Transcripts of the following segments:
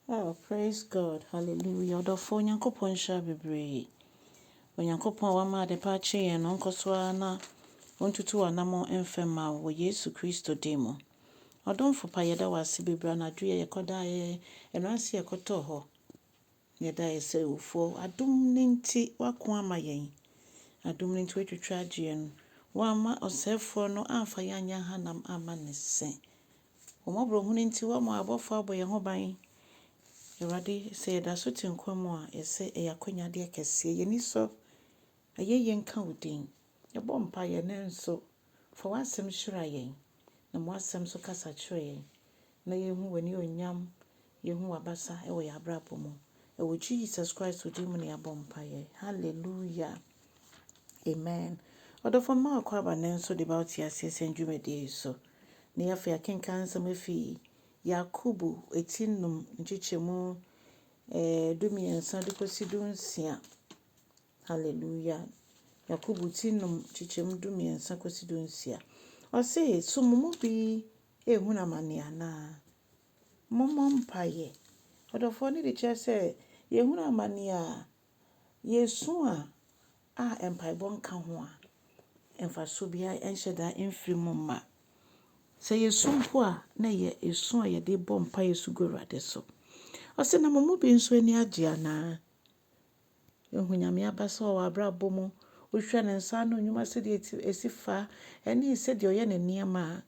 Oh praise God hallelujah ɔdɔfoɔ Nyankopɔn nhyira bebree Onyankopɔn a wama adepa akye yɛn no nkɔ so ara na ɔntutu w'anamɔn mfam ma wo wɔ Yesu Kristo din mu Ɔdomfo pa yɛda wo ase bebree anadwo yɛ yɛkɔdaa yɛ ɛnora nso yɛkɔtɔɔ hɔ yɛda yɛ sɛ ewufoɔ adom no nti woako ama yɛn adom no nti woatwitwa agye yɛn woamma ɔsɛefoɔ no amfa yɛn anyɛ ahanam amma ne se Wo mmɔborɔhunu nti woama abɔfoɔ abɔ yɛn ho ban. Awurade, sɛ yɛda so te nkwa mu a, yɛsɛ ɛyɛ akwanyadeɛ kɛseɛ. Yɛn ani sɔ, ayɛyie nka wo din. Yɛbɔ mpaeɛ nanso fa w'asɛm hyira yɛn, na ma w'asɛm nso kasa kyerɛ yɛn na yɛhu w'anionyam Yehu w'abasa wɔ yɛn abrabɔ mu. Wɔ Jesus Christ din mu na yɛabɔ mpaeɛ. Hallelujah. Amen. Ɔdɔfoɔ mma wakɔ aba no nso de ba wo te aseɛ sɛn dwumadie yi so. Na yɛafa yɛakenkan nsɛm afi Yakobo ɛti nnum nkyekyɛmu eh, du mmiɛnsa de kɔsi du nsia. Hallelujah. Yakobo ti nnum nkyekyɛmu du mmiɛnsa kɔsi du nsia. Ɔse, so mo mu bi ehunu amane anaa? Mommɔ mpaeɛ. Ɔdɔfoɔ no de kyerɛ sɛ yɛhunu amaneɛ a, yɛresu a, a mpaebɔ nka ho a, mfasoɔ biara nhyɛ da mfiri mu mma. Sɛ yɛsu mpo a, na ɛyɛ ɛsu a yɛde bɔ mpaeɛ su gu Awurade so. Ɔse, na mo mu bi nso ani agye anaa? Yɛhu Nyame abasa wɔ w'abrabɔ mu, wohwɛ Ne nsa ano nnwuma sɛdeɛ ɛsi fa, ɛne sɛdeɛ ɔyɛ Ne nneɛma a,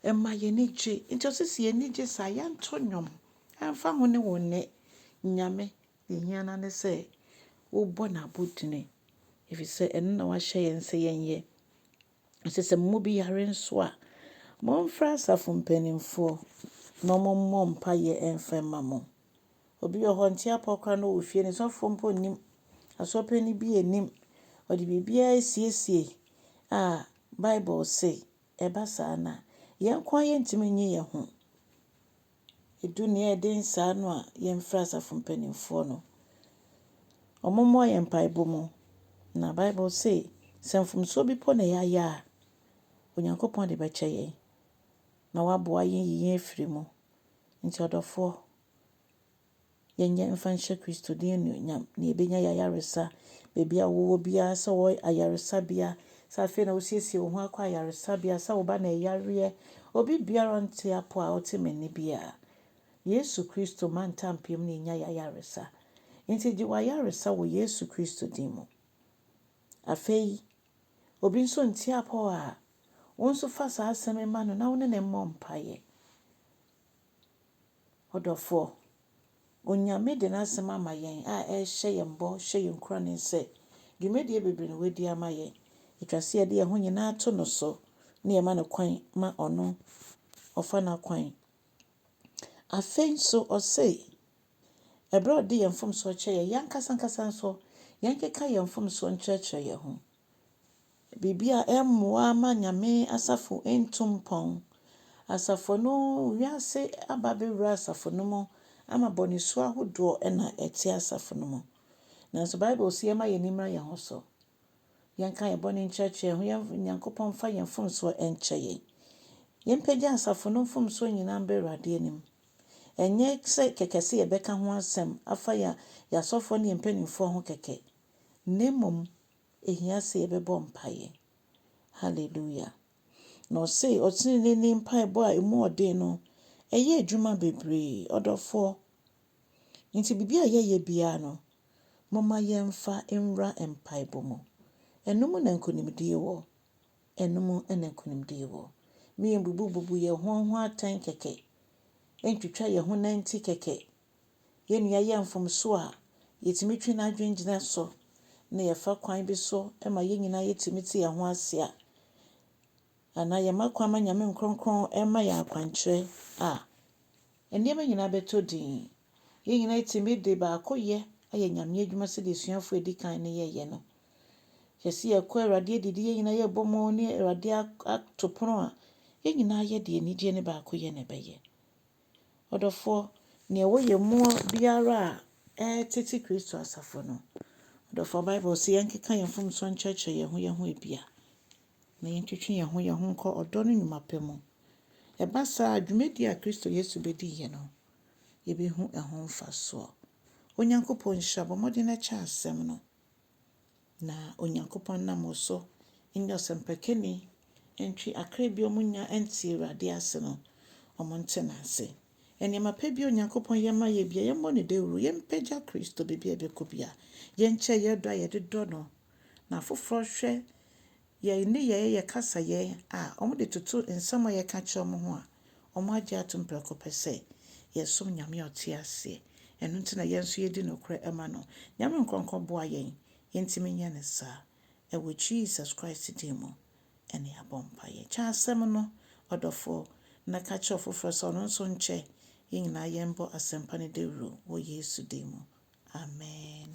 Ɛma yɛn ani gye. Enti ɔse sɛ yɛn ani gye saa a, yɛnto nnwom. Ɛmfa ho ne wo nnɛ Nyame, deɛ ɛhia no ara ne sɛ wobɔ no abodini, ɛfiri sɛ ɛno na wahyɛ yɛn sɛ yɛnyɛ. Ɔse sɛ mo mu bi yare nso a, momfrɛ asafo mpanimfoɔ na wɔmmɔ mpaeɛ mfa mma mo. Obi wɔ hɔ, ɔnte apɔ koraa na ɔwɔ fie, ne sɔfoɔ mpo nnim, asoɔpani bi nnim, ɔde biribiara asiesie a, Bible se Ɛba saa no a, yɛn nko ara yɛntumi nnye yɛn ho. Ɛdu nea ɛyɛ den saa no a, yɛmfrɛ asafo mpanimfoɔ no. Wɔmmoa yɛn mpaebɔ mu. Na Bible se, sɛ mfomsoɔ bi mpo na yɛayɛ a, Onyankopɔn de bɛkyɛ yɛn, na waboa yɛn ayi yɛn afiri mu. Nti ɔdɔfoɔ, Yɛnyɛ mfa nhyɛ Kristo din anuonyam na yɛbɛnya yɛn ayaresa baabi a wowɔ biara sɛ wɔ ayaresabea sɛ afei na wosiesie wo ho akɔ ayaresabea sɛ wo ba na ɛyareɛ obi biara nte apo a ɔte m'ani biara Yesu Kristo ma ntampeam na yɛnya yɛn ayaresa nti gye w'ayaresa wɔ Yesu Kristo din mu afei obi nso nte apɔ a wo nso fa saa asɛm ma no na wo ne ne mmɔ mpaeɛ Ɔdɔfoɔ, Onyame de N'asɛm ama yɛn a ɛrehyɛ yɛn bɔ, hyɛ yɛn nkuranen sɛ, dwumadie bebree na Wadi ama yɛn. Ɛtwa sɛ yɛde yɛn ho nyinaa to No so na yɛma No kwan ma Ɔno Ɔfa N'akwan. Afei nso Ɔse, ɛberɛ a Ɔde yɛn mfomsoɔ kyɛ yɛn, yɛn ankasa ankasa nso, yɛnkeka yɛn mfomsoɔ nkyerɛkyerɛ yɛn ho. biribi a ɛremmoa mma Nyame asafo ntu mpɔn. Asafo no, wiase aba abɛwura asafo no mu ama bɔne su ahodoɔ na ɛte asafo no mu. Nanso Bible se yɛmma yɛn ani mmra yɛn ho so, yɛnka yɛn bɔne nkyerɛkyerɛ yɛn ho, yɛn Nyankopɔn mfa yɛn mfomsoɔ nkyɛ yɛn. Yɛmpagya asafo no mfomsoɔ nyinaa mba Awurade anim. Ɛnyɛ sɛ kɛkɛ sɛ yɛbɛka ho asɛm afa yɛn asɔfoɔ ne yɛn mpanimfoɔ ho kɛkɛ, na mmom Ehia sɛ yɛbɛbɔ mpaeɛ. Hallelujah. Na ɔse ɔteneneeni mpaebɔ a ɛmu ɔden no, ɛyɛ adwuma bebree. Ɔdɔfoɔ, nti biribi a yɛyɛ biara no, momma yɛmfa nwura mpaebɔ mu. Ɛno mu na nkonimdie wɔ. Ɛno mu na nkonimdie wɔ. Mma yɛmbubububu yɛn ho ho atɛn kɛkɛ, ntwitwa yɛn ho nanti kɛkɛ. yɛn nua yɛ mfomso a, yetumi twe n'adwene gyina so na yɛfa kwan bi so ma yɛn nyinaa yetumi te yɛn ho ase a, anaa yɛma kwan ma Nyame nkronkron ma yɛn akwankyerɛ a, nneɛma nyinaa bɛtɔ din. Yɛn nyinaa yɛtumi de baakoyɛ ayɛ Nyame adwuma sɛdeɛ asuafoɔ a ɛdi kan no yɛeɛ no. Hwɛ sɛ yɛkɔ Awurade adidi, yɛn nyinaa yɛbɔ mu ne Awurade ato pono a, yɛn nyinaa yɛde anigyeɛ ne baakoyɛ na ɛbɛyɛ. Ɔdɔfoɔ, nea ɛwɔ yɛn mu biara a ɛretete Kristo asafo no, ɔdɔfoɔ, Bible se yɛnkeka yɛn mfomsoɔ nkyerɛkyerɛ yɛn ho yɛn ho ebia, na yɛntwetwe yɛn ho yɛn ho nkɔ ɔdɔ no nnwuma pa mu. Ɛba saa a, dwumadie a Kristo Yesu bɛdiiɛ no, yɛbɛhu ɛho mfasoɔ. Onyankopɔn nhyira, bɔ mmɔden na kyɛ asɛm no. Na Onyankopɔn nam wo so nyɛ ɔsɛmpakani ntwe akra bi a wɔnnya nte Awurade ase no, wɔnte no ase. Nneɛma pa bi a Onyankopɔn yɛ ma yɛn biara, yɛmmɔ no dawuru, yɛmpagya Kristo baabi a ɛbɛkɔ biara, yɛnkyɛ yɛn dɔ a yɛde dɔ no. Na afoforɔ hwɛ Yɛn nneyɛeɛ, yɛn kasayɛ a wɔde toto nsɛm a yɛka kyerɛ wɔn ho a wɔagye atom prɛko pɛ sɛ yɛsom Nyame a ɔte aseɛ. Ɛno nti na yɛn nso yɛdi nokorɛ ma no. Nyame nkorɔnkɔ boa yɛn yɛntumi nyɛ no saa. Ɛwɔ Jesus Christ din mu ne yɛabɔ mpaeɛ. Kyɛ asɛm no, ɔdɔfoɔ, na ka kyerɛ ɔfoforɔ sɛ ɔno nso nkyɛ. Yɛn nyinaa yɛmbɔ asɛmpa no dawuro wɔ Yesu din mu. Amen.